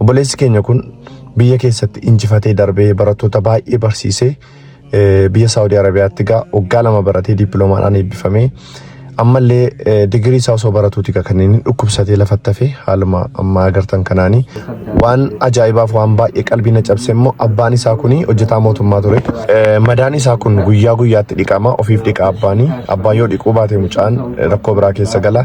Obboleessi keenya kun biyya keessatti injifatee darbee barattoota baay'ee barsiisee eh, biyya Saawudii Arabiyaatti gaa waggaa lama baratee dippiloomaadhaan eebbifamee ammallee eh, digirii isaa osoo baratuuti gaa kan inni dhukkubsatee lafatti hafee haaluma ammaa agartan kanaanii waan ajaa'ibaaf waan baay'ee qalbii na cabse immoo abbaan isaa kun hojjetaa mootummaa ture. Eh, Madaan isaa kun guyyaa guyyaatti dhiqama ofiif dhiqa abbaanii abbaan yoo dhiquu baate mucaan eh, rakkoo biraa keessa gala.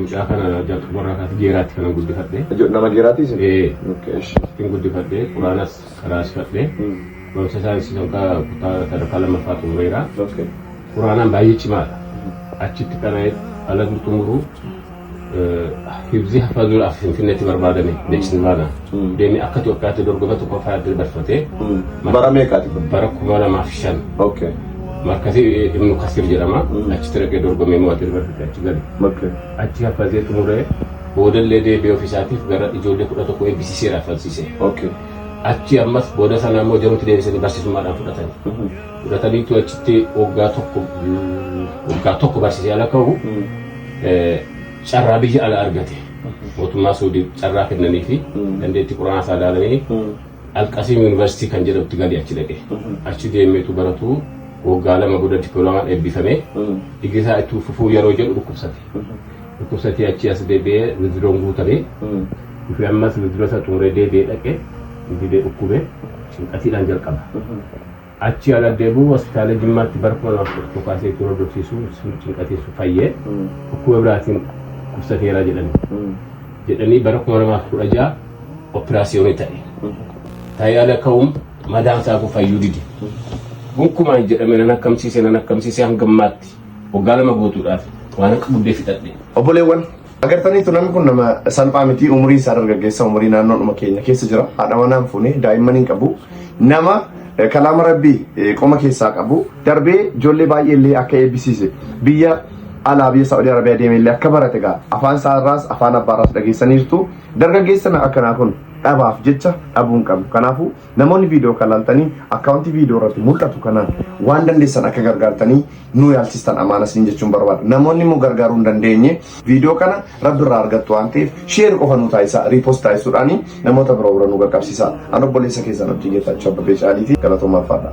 Mucaa kana jalqabarraa kaasee geeraatti kanan guddifadhe. Jo- Nama geeraatii isin? Ee. Okay, ishi. Ittiin guddifadhe, quraanas qaraasifadhe. Mm. Barumsa saayinsii sadarkaa kutaa sadarkaa lammaffaa xumureera. Okay. Quraanaan baay'ee cimaadha. Achitti qara'ee ala xumuru hibzii hafazuu af finfinneetti barbaadame beeksisni baanaa. Deemee akka Itoophiyaatti dorgoma tokko fa'aa adda dabarfate. Bara meeqaati? Bara kuma lamaa fi shan. Okay. Markasi Ibnu Kasir jedhama. Achitti dhaqee dorgomee mo'atee dabarfate achi gale. Okay. Achi kaffaltee xumuree boodallee deebi'ee ofiisaatiif gara ijoollee kudha tokko eebbisiiseera falsiisee. Okay. Achi ammas booda sana immoo jaruutti deebisanii barsiisummaadhaan fudhatan. Fudhataniitu achitti waggaa tokko waggaa tokko barsiisee ala ka'u carraa biyya ala argate. mootummaa Suudii carraa kennanii fi dandeettii quraanaa isaa ilaalanii Alqasiim Yuunivarsiitii kan jedhamutti galee achi dhaqe. Achi deemeetu baratuu waggaa lama booda dippiloomaan eebbifamee digrii isaa itti fufuu yeroo jedhu dhukkubsate. Dhukkubsatee achi as deebi'ee wiziroon guutamee dhufee ammas wiziroo isaa xumuree deebi'ee dhaqe dhibee dhukkubee cinqatiidhaan jalqaba. Achii ana deebi'uu hospitaala Jimmaatti bara 2011 kaasee ittiin hordofsiisuu sun cinqatiin sun fayyee dhukkuba biraatiin dhukkubsateera jedhani. Jedhanii bara 2016 operaasiyoonii ta'e. Ta'ee ala ka'uun madaan isaa kun fayyuu dide. Gonkumaan jedhame nan akkamsiise nan akkamsiise hanga ammaatti waggaa lama guutuudhaaf waan akka buddee fixadhe. Obboleewwan Agartaniitu namni kun nama salphaa miti umuriin isaa dargaggeessa umurii naannoodhuma keenya keessa jira haadha manaan fuune daa'imman hin qabu nama eh, kalaama rabbii eh, qoma keessaa qabu darbee ijoollee baay'ee illee akka eebbisiise biyya alaa biyya Saa'udii Arabiyaa deemee illee akka barate gaa afaan isaa irraas afaan abbaa irraas dhageessaniirtu dargaggeessa na- akkanaa kun dhabaaf jecha dhabuu hin qabu kanaafuu Namoonni viidiyoo kan laaltanii akkaawuntii viidiyoo irratti mul'atu kanaan waan dandeessan akka gargaartanii nuu yaalchistan amaana siin jechuun barbaada. Namoonni immoo gargaaruu hin dandeenye viidiyoo kana rabbi irraa argattu waan ta'eef sheer qofa nuu taasisaa riipost taasisuudhaan namoota biroo bira nu qaqqabsiisaa. An obboleessa keessan Abdii Geetaachoo Abbabee Caaliiti galatoomaa alfaadha.